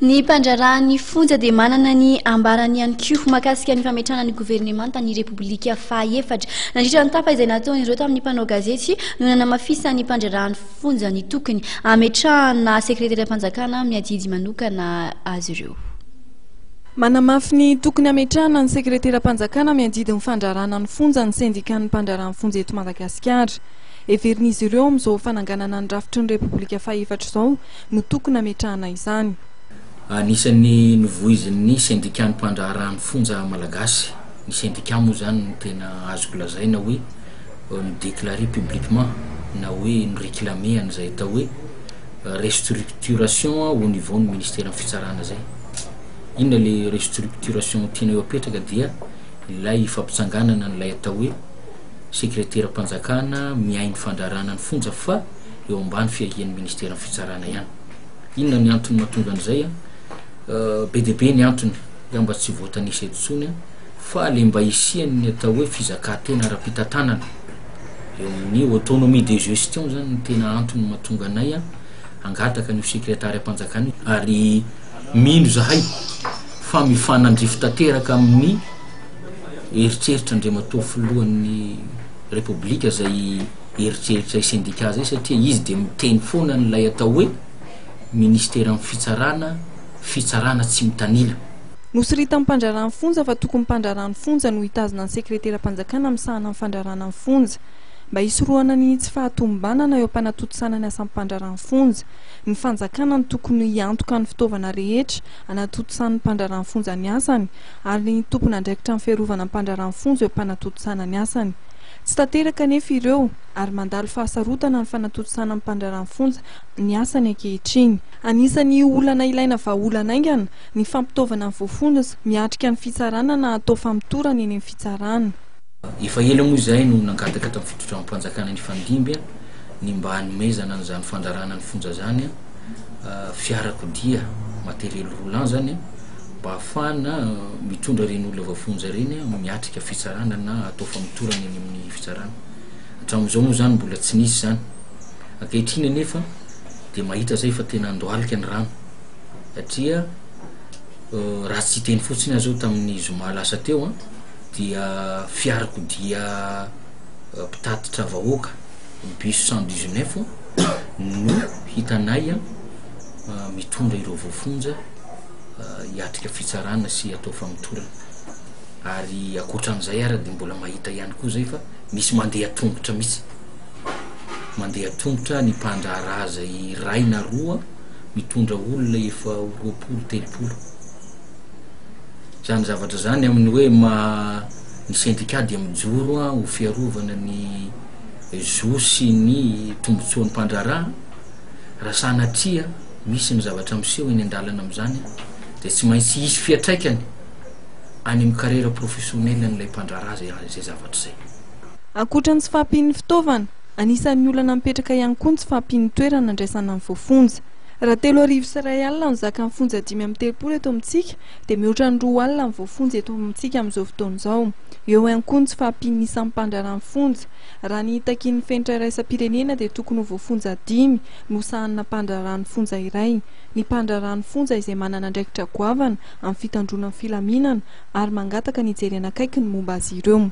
Ny mpandraharaha ny fonja dia manana ny ambarany ihany koa mahakasika ny fametrahana ny governemanta ny Repoblika fahaefatra. Nandritra ny tafa izay nataon'ireo tamin'ny mpanao gazety no nanamafisan'ny mpandraharaha ny fonja ny tokony hametrahana sekreteram-panjakana miadidy manokana azy ireo. Manamafy ny tokony hametrahana ny sekreteram-panjakana miadidy ny fandraharahana ny fonja ny sendikan'ny mpandraharaha ny fonja eto Madagasikara. Heverin'izy ireo amin'izao fananganana ny rafitry ny Repoblika fahaefatra izao no tokony hametrahana izany. Anisan'ny novoizin'ny sendikan'ny mpandraharaha ny fonja malagasy, ny sendika moa izany no tena azoko lazaina hoe ni-declarer publiquement na hoe ni-reclamer an'izay atao hoe restructuration au niveau ny ministeran'ny fitsarana izay. Inona ilay restructuration tianao hapetraka dia ilay fampitsanganana an'ilay atao hoe sekreteram-panjakana miahy ny fandraharahana ny fonja fa eo ambany fiahian'ny ministeran'ny fitsarana ihany. Inona ny antony mahatonga an'izay? Be dia be ny antony, dia mba tsy voatanisa eto intsony, fa le mba hisian'ny atao hoe fizakantena ara-pitantanana eo amin'ny autonomie de gestion zany ny tena antony mahatonga anay hangataka ny sekretary am-panjakana io ary mino zahay fa mifanandrify tanteraka amin'ny eritreritra andriamatoa filohan'ny repoblika izay eritreritra i sendika zay satria izy dia miteny foana an'ilay atao hoe Ministeran'ny Fitsarana, fitsarana tsy mitanila. Nosoritan'ny mpandraharaha ny fonja fa tokony mpandraharaha ny fonja no hitazona ny sekreteram-panjakana misahana ny fandraharahana ny fonja. Mba hisorohana ny tsy fahatomombanana eo am-panatontosana ny asam-pandraharaha ny fonja, ny fanjakana no tokony hiantoka ny fitaovana rehetra anatotosan'ny mpandraharaha ny fonja ny asany ary ny tompon'andraikitra ny fiarovana ny mpandraharaha ny fonja eo am-panatontosana ny asany. Tsy tanteraka anefa ireo ary mandalo fahasarotana ny fanatontosana ny mpandraharahan'ny fonja ny asany ankehitriny. Anisan'ny olana ilaina vahaolana haingana ny fampitaovana ny voafonja miatrika ny fitsarana na atao famotorana eny amin'ny fitsarana. Efa ela moa izay no nangataka tamin'ny fitondram-panjakana nifandimby ny mba hanomezana an'izany fandrarahana ny fonja izany fiarakodia, matériel roulant, izany. Mba hahafahana mitondra ireny olona voafonja ireny miatrika fitsarana na atao famotorana eny amin'ny fitsarana. Hatramin'izao moa izany mbola tsy nisy izany. Ankehitriny anefa dia mahita izay fa tena handohalika ny rano satria raha tsy hiteny fotsiny aho izao tamin'ny zoma lasa teo an, dia fiarakodia mpitatitra vahoaka, bus cent dix neuf, no hitanay mitondra ireo voafonja. hiatrika fitsarana sy atao famotorana ary akoatran'izay ary dia mbola mahita ihany koa zay fa misy mandeha tongotra mihitsy mandeha tongotra ny mpandraharaha zay iray na roa mitondra olona efa ho roapolo telopolo zany zavatra zany amin'ny hoe ma ny sendika dia mijoro a ho fiarovana ny zo sy ny tombotsoan'ny mpandraharaha raha sanatria misy ny zavatra miseho eny an-dalana amin'izany dia tsy maintsy hisy fiatraikany any amin'ny carrière professionnelle-n'ilay mpandraharaha izay izay zavatra izay. Ankoatra ny tsy fahampian'ny fitaovana, anisan'ny olana mipetraka ihany koa ny tsy fahampian'ny toerana andraisana ny voafonja. Raha telo arivo sy iray alina no zakan'ny fonja dimy amby telopolo eto amintsika dia mihoatra ny roa alina ny voafonja eto amintsika amin'izao fotoana izao. Eo ihany koa ny tsy fahampian'ny isan'ny mpandraharaha ny fonja. Raha ny takian'ny fenitra iraisam-pirenena dia tokony ho voafonja dimy no sahanina mpandraharahan'ny fonja iray. Ny mpandraharahan'ny fonja izay manana andraikitra goavana amin'ny fitandroana ny filaminana ary mangataka ny hijerena akaiky ny momba azy ireo.